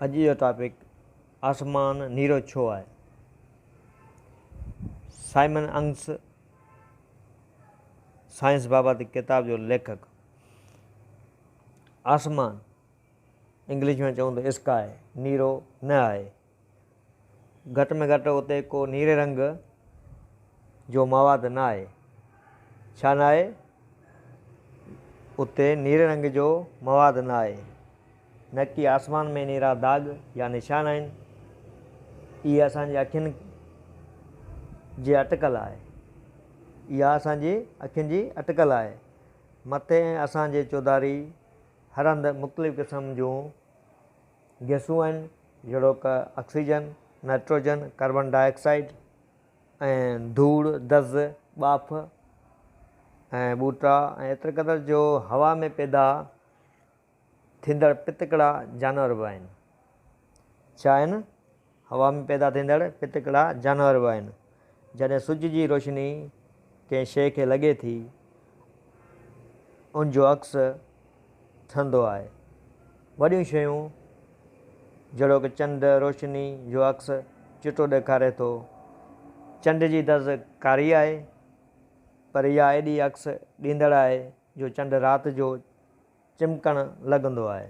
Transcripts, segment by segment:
اڄ جو ٽاپڪ آسمان نيرو ڇو آهي سائمن انگس سائنس بابت ڪتاب جو ليکڪ آسمان انگلش ۾ چون ته اسڪاء نيرو نه آهي گهٽ ۾ گهٽ اتي ڪو نيري رنگ جو مواد نه آهي. ڇا نه آهي؟ اتي نيري رنگ جو مواد نه آهي. نڪي آسمان ۾ نيرا داغ يا نشان آهن. اهي اسان جي اکين جي اٽڪل آهي. اها اسان جي اکين جي اٽڪل آهي. مٿي ۽ اسان جي چوڌاري هر هنڌ مختلف قسم جون گئسون آهن جهڙوڪ، oxygen, nitrogen, carbon dioxide ۽ ڌوڙ، دز، ٻاڦ ۽ ٻوٽا ۽ ايتري قدر جو هوا ۾ پيدا ٿيندڙ پتڪڙا جانور به آهن. ڇا آهن؟ هوا ۾ پيدا ٿيندڙ ڦٿڪڙا جانور به آهن. جڏهن سج جي روشني ڪنهن شيء کي لڳي ٿي، ان جو عڪس ٺهندو آهي. وڏيون شيون جهڙوڪ چنڊ، روشني جو عڪس چٽو ڏيکاري ٿو. چنڊ جي دز ڪاري آهي، پر اها ايڏي عڪس ڏيندڙ آهي جو چنڊ رات جو چمڪڻ لڳندو آهي.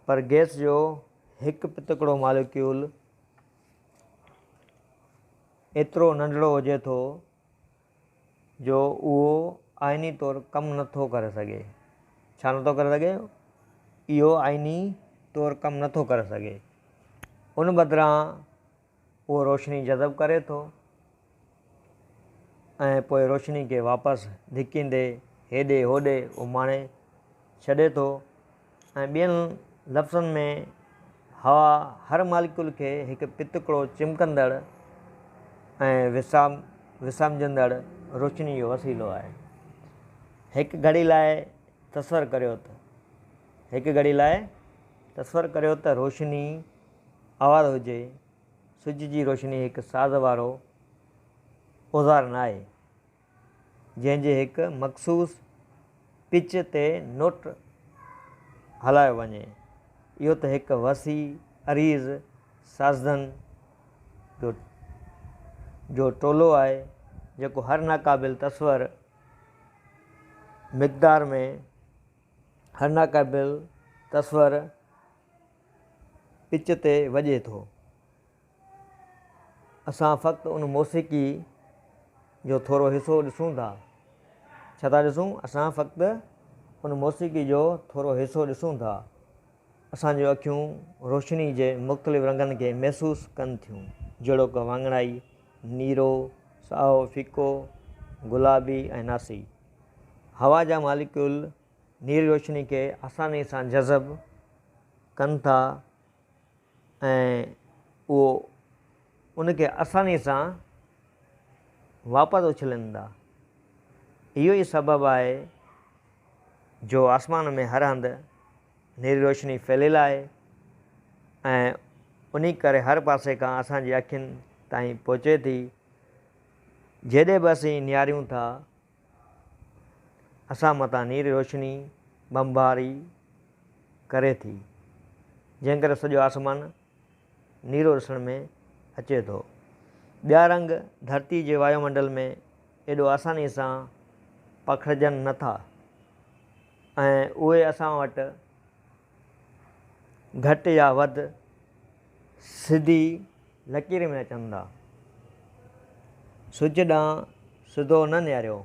پر گئس جو هڪ پتڪڙو ماليڪيول ايترو ننڍڙو هجي ٿو جو اهو آئيني طور ڪم نه ٿو ڪري سگهي. ڇا نه ٿو ڪري سگهي؟ اهو آئيني طور ڪم نه ٿو ڪري سگهي. ان بدران اهو روشني جذب ڪري ٿو ۽ پوء روشني کي واپس ڌڪيندي هيڏي هوڏي اماڻي ڇڏي ٿو ۽ ٻين لفظن ۾ هوا هر ماليڪيول کي هڪ پتڪڙو چمڪندڙ ۽ وسامجندڙ روشني جو وسيلو آهي. هڪ گهڙي لاء تصور ڪريو ته هڪ گهڙي لاء تصور ڪريو ته روشني آوار هجي، سج جي روشني هڪ ساز وارو اوزار ناهي، جنهن جي هڪ مخصوص پچ تي نوٽ هلايو وڃي، اهو ته هڪ وسيع عريض سازندن جو ٽولو آهي، جيڪو هر ناقابل تصور مقدار ۾، هر ناقابل تصور. پچ تي وڄي ٿو. اسان فقط ان موسيقي جو ٿورو حصو ڏسون ٿا. ڇا ٿا ڏسون؟ اسان فقط ان موسيقي جو ٿورو حصو ڏسون ٿا. اسان جون اکيون روشني جي مختلف رنگن کي محسوس ڪن ٿيون، جهڙوڪ واڱڻائي، نيرو، سائو، ڦڪو، گلابي ۽ ناسي. هوا جا ماليڪيول نير روشني کي آساني سان جذب ڪن ٿا ۽ اهو ان کي آساني سان واپس اڇلين ٿا. اهو ئي سبب آهي جو آسمان ۾ هر هنڌ نيري روشني ڦهليل آهي ۽ انهي ڪري هر پاسي کان اسان جي اکين تائين پهچي ٿي. جيڏي به اسين نهاريون ٿا. اسان متان نيري روشني بمباري ڪري ٿي، جنهن ڪري سڄو آسمان نيرو ڏسڻ ۾ اچي ٿو. ٻيا رنگ ڌرتي جي وايو منڊل ۾ ايڏو آساني سان پکڙجن نه ٿا ۽ اهي اسان وٽ گهٽ يا وڌ سڌي لڪير ۾ اچن ٿا. سج ڏانهن سڌو نه نهاريو.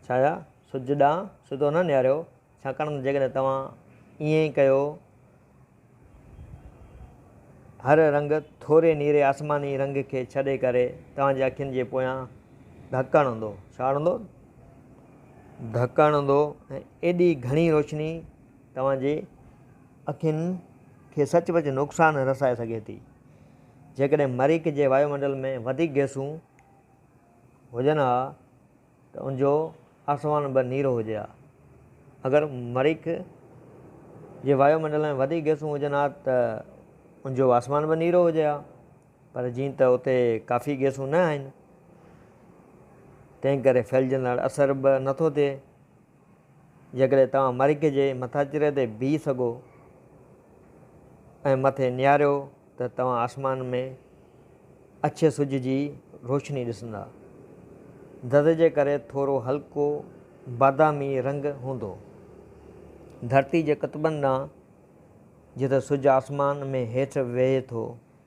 ڇا يا سج ڏانهن سڌو نه نهاريو ڇاڪاڻ ته جيڪڏهن توهان ائين ڪيو هر رنگ ٿوري نيري آسماني رنگ کي ڇڏي ڪري توهان جي اکين جي پويان ڌڪ هڻندو. ڇا هڻندو؟ ڌڪ هڻندو ۽ ايڏي گهڻي روشني توهان جي اکين کي سچ پچ نقصان رسائي سگهي ٿي. جيڪڏهن مريخ جي وايو منڊل ۾ وڌيڪ گئسون هجن ها ته ان جو آسمان به نيرو هجي ها. اگر مريخ جي وايو منڊل ۾ وڌيڪ گئسون هجن ها ته ان جو آسمان به نيرو هجي ها. پر جيئن ته اتي ڪافي گئسون نه آهن، تنهن ڪري ڦهلجندڙ اثر به نٿو ٿئي جيڪڏهن توهان مرڪي جي مٿاڇري تي بيهي سگهو ۽ مٿي نهاريو ته توهان آسمان ۾ اڇي سج جي روشني ڏسندا. دد جي ڪري ٿورو هلڪو بادامي رنگ هوندو. ڌرتي جي قطبن ڏانهن جتي سج آسمان ۾ هيٺ ويهي ٿو.